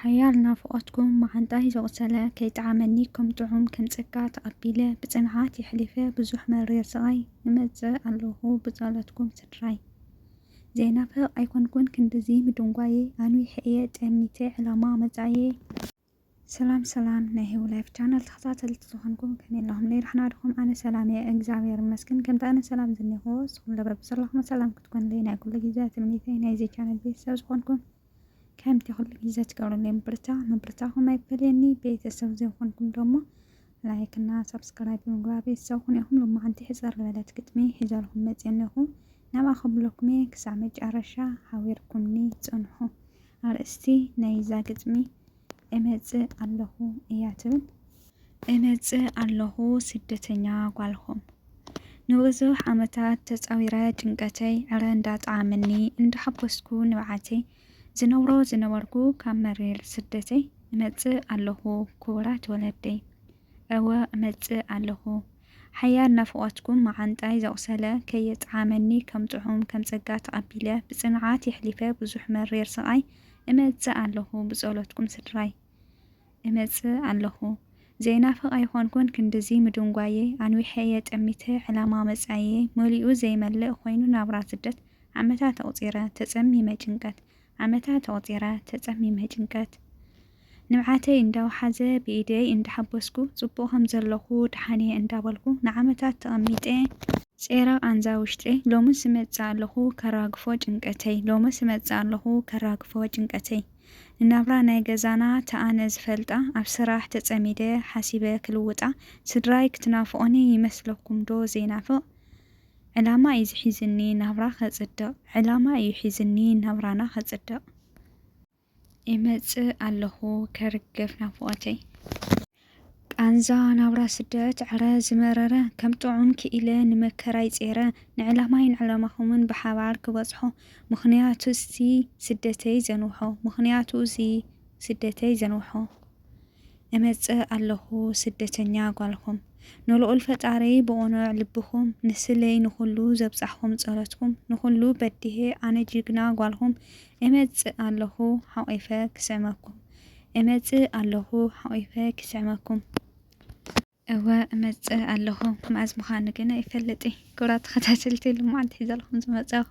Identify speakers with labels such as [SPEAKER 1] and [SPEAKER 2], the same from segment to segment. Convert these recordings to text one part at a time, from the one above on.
[SPEAKER 1] ሓያል ናፍቆትኩም መዓንጣይ ዘቁሰለ ከይጠዓመኒ ከም ጥዑም ከም ጸጋ ተቀቢለ ብጽንዓት የሕሊፈ ብዙሕ መሪር ስቃይ እመጽእ ኣለኩ ብጸሎትኩም ስድራይ ዘይናፍቅ ኣይኮንኩን ክንድዚ ምድንጓየ ኣንዊሐ እየ ጠሚተ ዕላማ መጻኢየ ሰላም ሰላም ናይ ሄው ላይፍ ቻናል ተኸታተልቲ ዝኾንኩም ከመይ ኣለኹም ለይራሕና ድኹም ኣነ ሰላም እየ እግዚኣብሔር ይመስገን ከምቲ ኣነ ሰላም ዝኒኹ ንስኹም ለበብ ዘለኹም ሰላም ክትኮንለይ ናይ ኩሉ ግዜ ትምኒተይ ናይዚ ቻናል ቤተሰብ ዝኾንኩም ከምቲ ኩሉ ግዜ ትገብሩለይ ምብርታ ምብርታኹም ኣይፈለየኒ ቤተሰብ ዘይኮንኩም ደሞ ላይክ እና ሰብስክራይብ ብምግባር ቤተሰብ ኩኑ ኢኹም ሎማዓንቲ ሕፅር ዝበለት ግጥሚ ሒዘልኩም መፅየ ኣለኹ ናብኣ ከብለኩም እየ ክሳብ መጨረሻ ሓቢርኩምኒ ፅንሑ ኣርእስቲ ናይዛ ግጥሚ እመጽእ ኣለኹ እያ ትብል። እመጽእ ኣለኹ ስደተኛ ጓልኹም። ንብዙሕ ዓመታት ተጻዊረ ጭንቀተይ ዕረ እንዳጠዓመኒ እንዳሓጎስኩ ንብዓተይ ዝነብሮ ዝነበርኩ ካብ መሪር ስደተይ እመጽእ ኣለኹ ክቡራት ወለደይ። እወ እመጽእ ኣለኹ። ሓያል ናፍቖትኩም መዓንጣይ ዘቑሰለ ከየጥዓመኒ ከም ጥዑም ከም ጸጋ ተቐቢለ ብጽንዓት የሕሊፈ ብዙሕ መሪር ስቓይ እመጽእ ኣለኹ ብጸሎትኩም ስድራይ እመጽእ ኣለኹ ዘይናፍቕ ኣይኮንኩን ክንድዚ ምድንጓየይ ኣንዊሐ እየ ጠሚተ ዕላማ መጻኢየይ መሊኡ ዘይመልእ ኮይኑ ናብራ ስደት ዓመታት ኣቑጺረ ተጸሚመ ጭንቀት ዓመታት ኣቑጺረ ተጸሚመ ጭንቀት ንብዓተይ እንዳውሓዘ ብኢደይ እንዳሓበስኩ ጽቡቕ ከምዘለኹ ድሓንየ እንዳበልኩ ንዓመታት ተቐሚጠ ጼረ ቓንዛ ውሽጠይ ሎምስ እመጽእ ኣለኹ ከራግፎ ጭንቀተይ ሎምስ እመጽእ ኣለኹ ከራግፎ ጭንቀተይ ንናብራ ናይ ገዛና ተኣነ ዝፈልጣ ኣብ ስራሕ ተጸሚደ ሓሲበ ክልውጣ ስድራይ ክትናፍቑኒ ይመስለኩምዶ ዘይናፍቕ ዕላማ እዩ ዝሒዝኒ ናብራ ከፅድቕ ዕላማ እዩ ሒዝኒ ናብራና ከፅድቕ። ይመፅእ ኣለኹ ከርግፍ ናፍቖተይ። ቃንዛ ናብራ ስደት ዕረ ዝመረረ ከም ጥዑም ክኢለ ንመከራይ ጼረ ንዕላማይ ንዕላማኹምን ብሓባር ክበፅሖ ምኽንያቱ እዚ ስደተይ ዘንውሖ ምኽንያቱ እዚ ስደተይ ዘንውሖ። እመጽእ ኣለኹ ስደተኛ ጓልኩም ንልኡል ፈጣሪ ብቁኑዕ ልብኩም ንስለይ ንኩሉ ዘብጻሕኩም ጸሎትኩም ንኩሉ በዲሄ ኣነ ጅግና ጓልኩም እመጽእ ኣለኹ ሓቂፈ ክስዕመኩም እመጽእ ኣለኹ ሓቂፈ ክስዕመኩም። እወ እመጽእ ኣለኹ መኣዝ ምዃኑ ግን ኣይፈልጥይ። ክብራት ተኸታተልቲ ልምዓት ሒዘልኩም ዝመጸኹ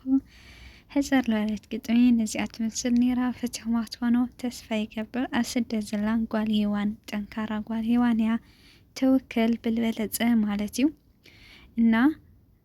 [SPEAKER 1] ሕጸር ለዋለት ግጥሚ ነዚኣ ትመስል ነይራ ፈቲኹማ ትኾኑ ተስፋ ይገብር ኣብ ስደት ዘላን ጓል ሄዋን ጠንካራ ጓል ሄዋን እያ ተወከል ብልበለጸ ማለት እዩ እና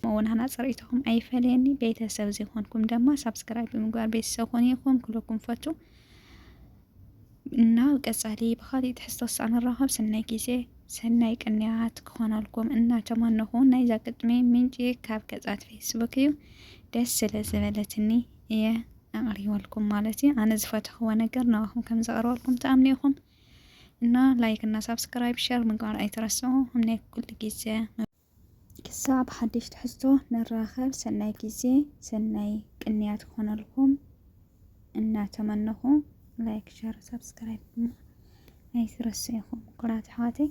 [SPEAKER 1] ከምኡ ውን ኣና ፅርይትኩም ኣይፈለየኒ ቤተሰብ ዘይኮንኩም ደማ ሳብስክራይብ ብምግባር ቤተሰብ ኮኑ ኢኩም ክብለኩም ፈቱ እና ቀፃሊ ብካሊእ ትሕዝቶ ክሳዕ ንራኸብ ሰናይ ግዜ ሰናይ ቅንያት ክኾነልኩም እናተመነኹ ናይዛ ግጥሚ ምንጪ ካብ ገጻት ፌስቡክ እዩ ደስ ስለ ዝበለትኒ እየ ኣቕሪበልኩም ማለት እዩ ኣነ ዝፈትሕዎ ነገር ንኣኹም ከም ዘቕርበልኩም ተኣምኒ ኢኹም እና ላይክ እና ሳብስክራይብ ሸር ምግባር ኣይትረስዑ እምነት ኩሉ ግዜ ክሳብ ሓድሽ ትሕዝቶ ንራኸብ ሰናይ ግዜ ሰናይ ቅንያት ክኾነልኩም እናተመነኹ ላይክ ሸር ሳብስክራይብ ድማ ኣይትረስዑ ምቁራት ኣሕዋተይ።